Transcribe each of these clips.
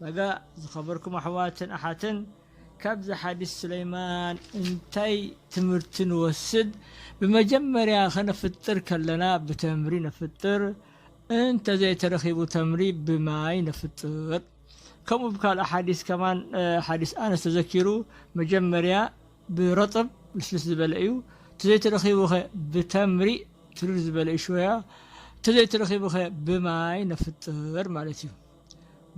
በጋ ዝኸበርኩም ኣሕዋትን ኣሓትን ካብዚ ሓዲስ ሱለይማን እንታይ ትምህርቲ ንወስድ? ብመጀመርያ ከነፍጥር ከለና ብተምሪ ነፍጥር እንተዘይተረኺቡ ተምሪ ብማይ ነፍጥር። ከምኡ ብካልእ ሓዲስ ከማን ሓዲስ ኣነስ ተዘኪሩ መጀመርያ ብረጥብ ልስልስ ዝበለ እዩ ተዘይተረኺቡኸ ብተምሪ ትርር ዝበለ እዩ ሽወያ ተዘይተረኺቡኸ ብማይ ነፍጥር ማለት እዩ።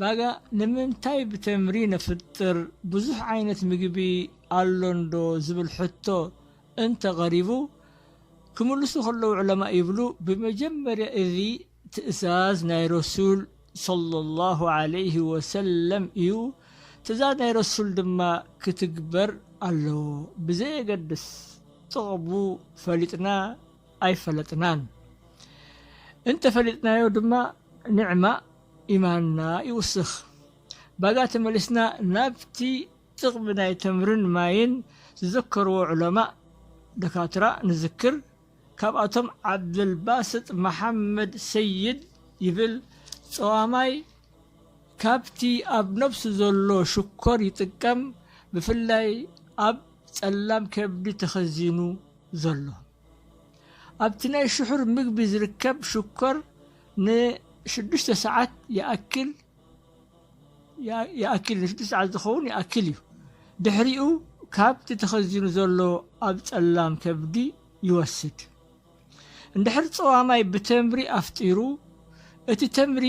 ባጋ ንምንታይ ብተምሪ ነፍጥር ብዙሕ ዓይነት ምግቢ ኣሎ እንዶ ዝብል ሕቶ እንተ ቐሪቡ ክምልሱ ከለዉ ዑለማእ ይብሉ ብመጀመርያ እዚ ትእዛዝ ናይ ረሱል ሶለሏሁ ዓለይሂ ወሰለም እዩ ትእዛዝ ናይ ረሱል ድማ ክትግበር ኣለዎ ብዘየገድስ ጥቕሙ ፈሊጥና ኣይፈለጥናን እንተፈሊጥናዮ ድማ ኒዕማ ኢማንና ይውስኽ ባጋ ተመሊስና ናብቲ ጥቅሚ ናይ ተምርን ማይን ዝዘከርዎ ዑለማእ ደካትራ ንዝክር ካብኣቶም ዓብደልባስጥ መሓመድ ሰይድ ይብል ጸዋማይ ካብቲ ኣብ ነብሱ ዘሎ ሽኮር ይጥቀም ብፍላይ ኣብ ጸላም ከብዲ ተኸዚኑ ዘሎ ኣብቲ ናይ ስሑር ምግቢ ዝርከብ ሽኮር ንሽዱሽተ ሰዓት ይኣክል ይኣክል ንሽዱሽተ ሰዓት ዝኸውን ይኣክል እዩ። ድሕሪኡ ካብቲ ተኸዚኑ ዘሎ ኣብ ጸላም ከብዲ ይወስድ። እንድሕር ጸዋማይ ብተምሪ ኣፍጢሩ፣ እቲ ተምሪ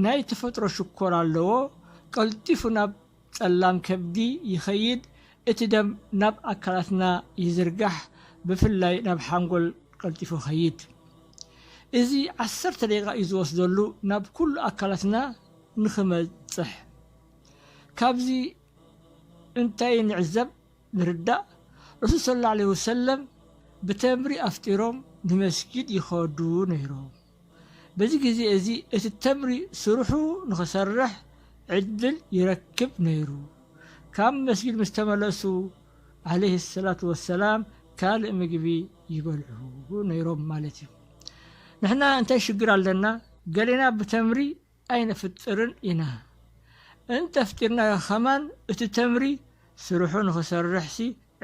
ናይ ተፈጥሮ ሽኮር ኣለዎ፣ ቀልጢፉ ናብ ጸላም ከብዲ ይኸይድ፣ እቲ ደም ናብ ኣካላትና ይዝርጋሕ ብፍላይ ናብ ሓንጎል ቀልጢፉ ይኸይድ። እዚ ዓሰርተ ደቂቃ እዩ ዝወስደሉ ናብ ኩሉ ኣካላትና ንኽበጽሕ። ካብዚ እንታይ ንዕዘብ፣ ንርዳእ፣ ረሱል ሰለላሁ ዓለይሂ ወሰለም ብተምሪ ኣፍጢሮም ንመስጊድ ይኸዱ ነይሮም። በዚ ግዜ እዚ እቲ ተምሪ ስርሑ ንኽሰርሕ ዕድል ይረክብ ነይሩ። ካብ መስጊድ ምስ ተመለሱ ዓለይሂ ሰላቱ ወሰላም ካልእ ምግቢ ይበልዑ ነይሮም ማለት እዩ። ንሕና እንታይ ሽግር ኣለና ገሌና ብተምሪ ኣይነፍጥርን ኢና እንተፍጢርናዮ ከማን እቲ ተምሪ ስርሑ ንኽሰርሕሲ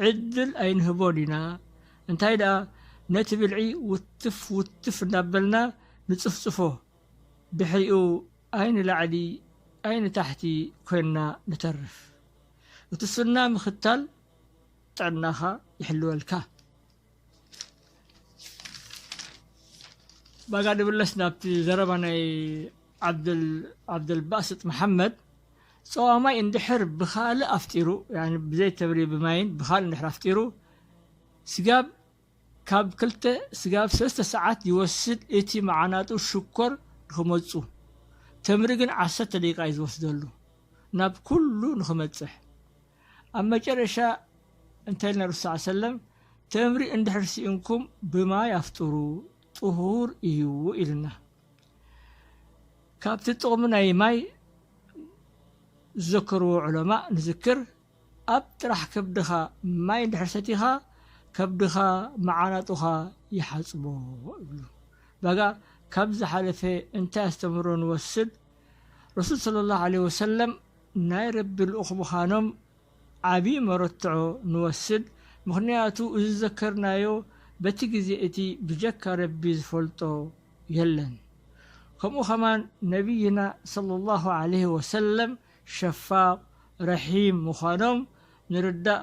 ዕድል ኣይንህቦን ኢና እንታይ ደኣ ነቲ ብልዒ ውትፍ ውትፍ እንዳበልና ንጽፍጽፎ ድሕሪኡ ኣይንላዕሊ ኣይንታሕቲ ኮይንና ንተርፍ እቲ ሱና ምኽታል ጥዕናኻ ይሕልወልካ። ባጋ ድብለስ ናብቲ ዘረባ ናይ ዓብደልባስጥ መሓመድ ፀዋ ማይ እንድሕር ብካልእ ኣፍጢሩ ብዘይ ተብሪ ብማይን ብካልእ እንድሕር ኣፍጢሩ ስጋብ ካብ ክልተ ስጋብ ሰለስተ ሰዓት ይወስድ እቲ መዓናጡ ሽኮር ንክመፁ ተምሪ ግን ዓሰርተ ደቂቃ እዩ ዝወስደሉ ናብ ኩሉ ንክመፅሕ ኣብ መጨረሻ እንታይ ኢልና ረሱል ሰለላሁ ዐለይሂ ወሰለም ተምሪ እንድሕር ሲኢንኩም ብማይ ኣፍጥሩ ጥሁር እዩ ኢሉና። ካብቲ ጥቕሚ ናይ ማይ ዝዘከርዎ ዑለማእ ንዝክር ኣብ ጥራሕ ከብድኻ ማይ እንድሕር ሰቲኻ ከብድኻ መዓናጡኻ ይሓፅቦ ይብሉ። ባጋ ካብ ዝሓለፈ እንታይ ኣስተምህሮ ንወስድ? ረሱል ሰለላሁ ዐለይሂ ወሰለም ናይ ረቢ ልኡኽ ምኻኖም ዓቢ መረትዖ ንወስድ ምኽንያቱ እዚ ዝዘከርናዮ በቲ ግዜ እቲ ብጀካ ረቢ ዝፈልጦ የለን ከምኡ ከማን ነብይና ሰለሏሁ ዓለይሂ ወሰለም ሸፋቕ ረሒም ምኻኖም ንርዳእ